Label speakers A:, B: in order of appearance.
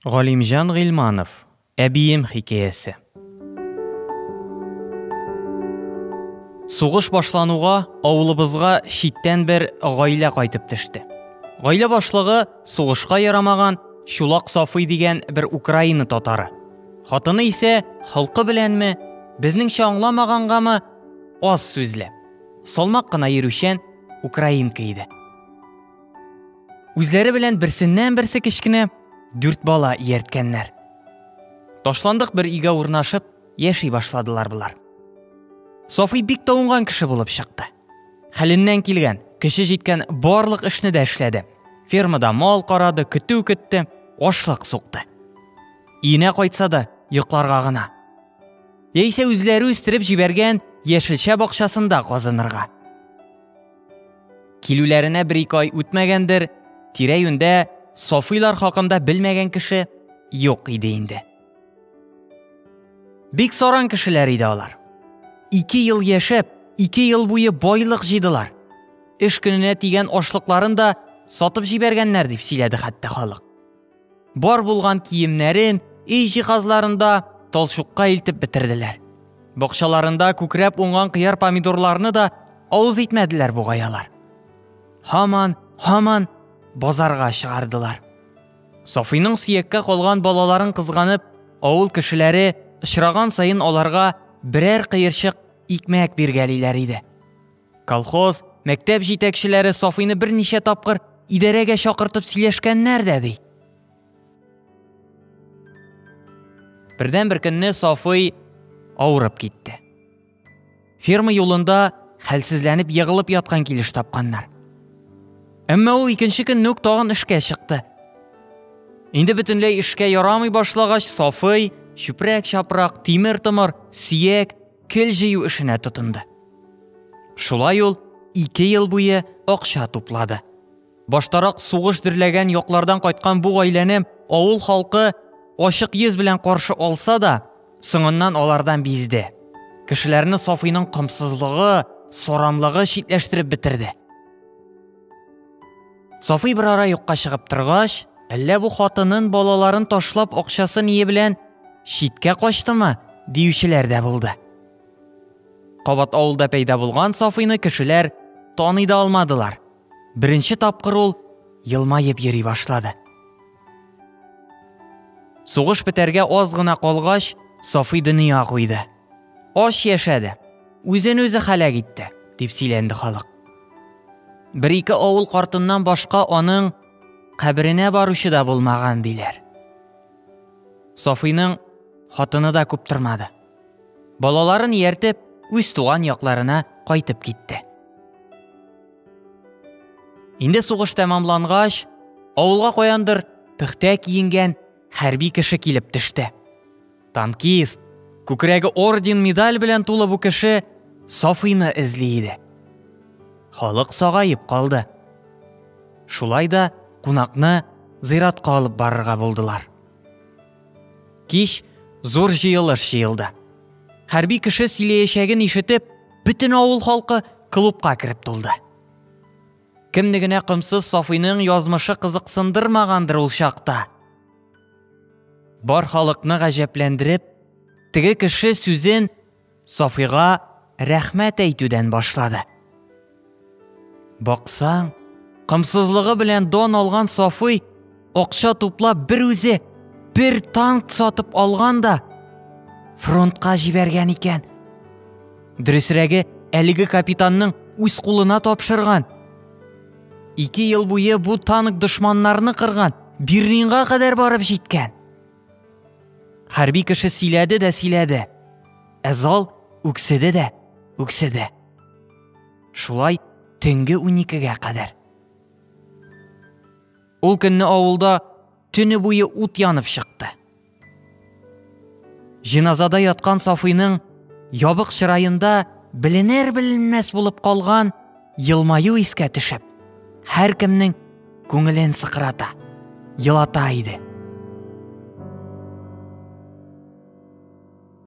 A: Галимҗан Гыйльманов, Әбием хикәясе. Сугыш башлануга авылыбызга читтән бер гаилә кайтып төште. Гаилә башлыгы сугышка ярамаган Чулак Сафый дигән бер Украина татары. Хатыны исә холкы беләнме, безнеңчә аңламагангамы, аз сүзле. Салмак кына йөрүчән украинка иде. Үзләре белән берсеннән-берсе кечкенә дүрт бала иярткәннәр. Ташландык бер өйгә урнашып, яши башладылар болар. Софи бик тавынган кеше булып чыкты. Хәленнән килгән, көче җиткән барлык эшне дә эшләде. Фермада мал карады, көтү көтте, ашлык сукты. Иенә кайтса да, йокларга гына. Яисә үзләре үстереп җибәргән яшелчә бакчасында казынырга. Килүләренә бер-ике ай үтмәгәндер, тирә-юньдә Сафыйлар хакында белмәгән кеше юк иде инде. Бик саран кешеләр иде алар. Ике ел яшәп, ике ел буе байлык җыйдылар. Эш көненә тигән ашлыкларын да сатып җибәргәннәр дип сөйләде хәтта халык. Бар булган киемнәрен, өй җиһазларын да талчукка илтеп бетерделәр. Бакчаларында күкрәп уңган кыяр помидорларны да авыз итмәделәр бугай алар. Һаман, һаман базарга чыгардылар. Софиның сөяккә калган балаларын кызганып, авыл кешеләре очраган саен аларга берәр кыерчык икмәк биргәлиләр иде. Колхоз, мәктәп җитәкчеләре Сафыйны берничә тапкыр идарәгә чакыртып сөйләшкәннәр дә ди. Бердән бер көнне Сафый авырып китте. Ферма юлында хәлсезләнеп егылып яткан килеш тапканнар. Әмма ул икенче көнне үк тагын эшкә чыкты. Инде бөтенләй эшкә ярамый башлагач, Сафый чүпрәк-чапрак, тимер-томыр, сөяк, кел җыю эшенә тотынды. Шулай ул ике ел буе акча туплады. Баштарак сугыш дөрләгән яклардан кайткан бу гаиләне авыл халкы ачык йөз белән каршы алса да, соңыннан алардан бизде. Кешеләрне Сафыйның комсызлыгы, сорамлыгы читләштереп бетерде. Сафый бер ара юкка чыгып торгач, әллә бу хатынын балаларын ташлап акчасы ние белән читкә качтымы, диючеләр дә булды. Кабат авылда пәйда булган Сафыйны кешеләр таный да алмадылар. Беренче тапкыр ул елмаеп йөри башлады. Сугыш бетәргә аз гына калгач, Сафый дөнья куйды. Ач яшәде, үзен-үзе халәк итте, дип сөйләнде халык. Бер-ике авыл картыннан башка аның каберенә баручы да булмаган, диләр. Софыйның хатыны да күп тормады. Балаларын ияртеп, үз туган якларына кайтып китте. Инде сугыш тәмамлангач, авылга каяндыр пөхтә киенгән хәрби кеше килеп төште. Танкист, күкрәге орден-медаль белән тулы бу кеше Сафыйны эзли иде. Халык сагаеп калды. Шулай да кунакны зыйратка алып барырга булдылар. Кич зур җыелыш җыелды. Хәрби кеше сөйләячәген ишетеп, бөтен авыл халкы клубка кереп тулды. Кемне генә комсыз Сафыйның язмышы кызыксындырмагандыр ул чакта. Бар халыкны гаҗәпләндереп, теге кеше сүзен Сафига рәхмәт әйтүдән башлады. Баксаң, кымсызлыгы белән дон алган Сафый акча туплап бер үзе бер танк сатып алган да фронтка җибәргән икән. Дөресрәге, әлеге капитанның үз кулына тапшырган. Ике ел буе бу танк дошманнарны кырган, Берлинга кадәр барып җиткән. Хәрби кеше сөйләде дә сөйләде. Ә зал үкседе дә, үкседе. Шулай төнге уникегә кадәр. Ул көнне авылда төне буе ут янып чыкты. Җиназада яткан Сафыйның ябык чыраенда беленер беленмәс булып калган елмаю искә төшеп, һәр кемнең күңелен сыкрата, елата иде.